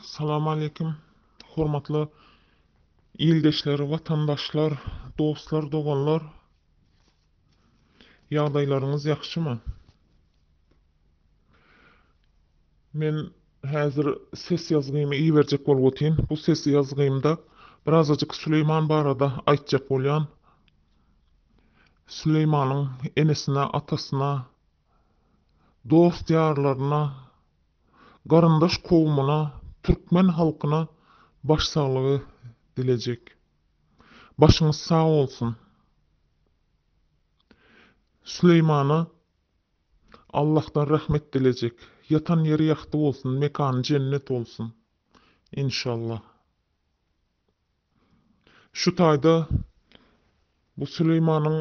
Salam aleýkum. Hormatly ildeşler, watandaşlar, dostlar, doganlar. Ýagdaýlaryňyz ýagşymy? Men häzir ses ýazgymy iberjek bolup otyryn. Bu ses ýazgymda birazajyk Süleýman barada aýtjak bolýan. Süleýmanyň enesine, atasyna, dost-ýarlaryna, garyndaş kowumyna, türkmen halkyna baş saglygy dilejek. Başyňyz sag bolsun. Süleýmana Allahdan rahmet dilejek. Ýatan ýeri ýagty bolsun, mekany jennet bolsun. Enşallah. Şu taýda bu Süleýmanyň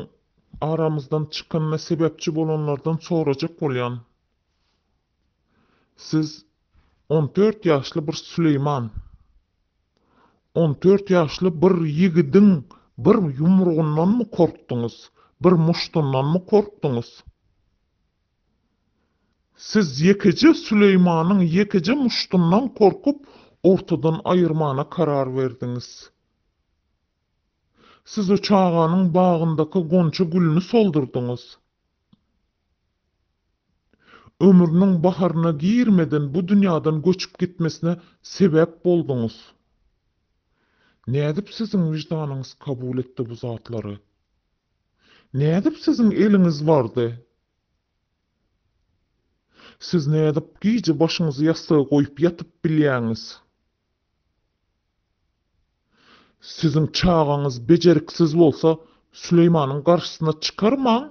aramyzdan çykanyna sebäpçi bolanlardan sorajak bolýan. Siz on dört ýaşly bir Süleýman. On dört ýaşly bir ýigidiň bir ýumrugyndanmy korkduňyz, bir muşdundanmy korkduňyz? Siz ýekeje Süleýmanyň ýekeje muşdundan korkup, ortadan aýyrmana karar berdiňiz. Siz o çaganyň bagyndaky gonja gülüni soldurdyňyz. Ömrüniň baharyna girmeden bu dünýäden göçüp gitmesine sebäp bolduňyz. Nädip siziň wyždanyňyz kabul etdi bu zatlary? Nädip siziň eliňiz bardy? Siz nädip gije başyňyzy ýassyga goýup ýatyp bilýäňiz? Siziň çagaňyz bejeriksiz bolsa, Süleýmanyň garşysyna çykarmaň.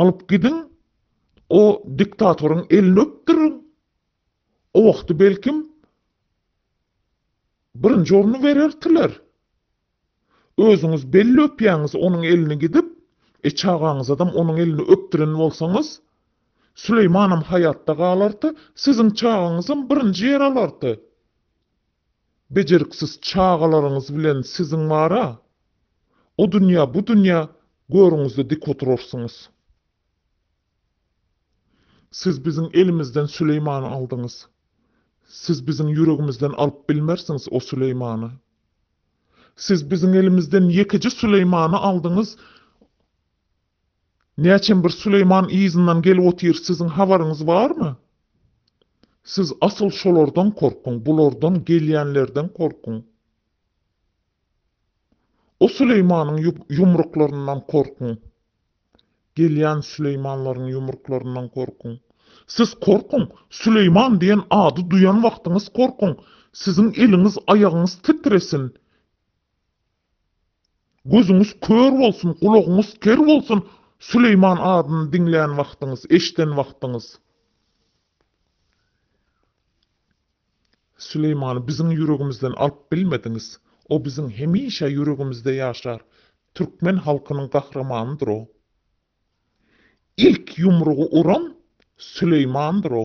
Alyp gidiň, o diktatoryň elini öpdüriň. O wagty belkim, birinji orny berertiler. Özüňiz belli öpýäňiz onuň elini gidip, e çagaňyzadam onuň elini öpdüren bolsaňyz, Süleýmanam haýatda galarty, siziň çagaňyzam birinji ýer alarty. Bejeriksiz çagalaryňyz bilen siziň bar-a, o dünýä, bu dünýä görüňizde dik oturarsyňyz. Siz biziň elimizden Süleýmany aldyňyz. Siz biziň ýüregimizden alyp bilmersiňiz o Süleýmany. Siz biziň elimizden ýekeje Süleýmany aldyňyz. Näçem bir Süleýman yzyndan gelip otyr, siziň habaryňyz barmy? Siz asyl şolardan korkuň, bulardan, gelýänlerden korkuň. O Süleýmanyň ýumruklaryndan korkuň. Gelýän Süleýmanlaryň ýumruklaryndan gorkuň. Siz korkuň! Süleýman diýen ady duýan wagtyňyz korkuň! Siziň eliňiz, aýagyňyz titresin! Gözüňiz kör bolsun, gulagyňyz ker bolsun, Süleýman adyny diňlän wagtyňyz, eşden wagtyňyz! Süleýmany biziň ýüregimizden alyp bilmediňiz. O biziň hemişe ýüregimizde ýaşar. Türkmen halkynyň gahrymanydyr o. Ilk ýumrugy uran Süleýmandyr o.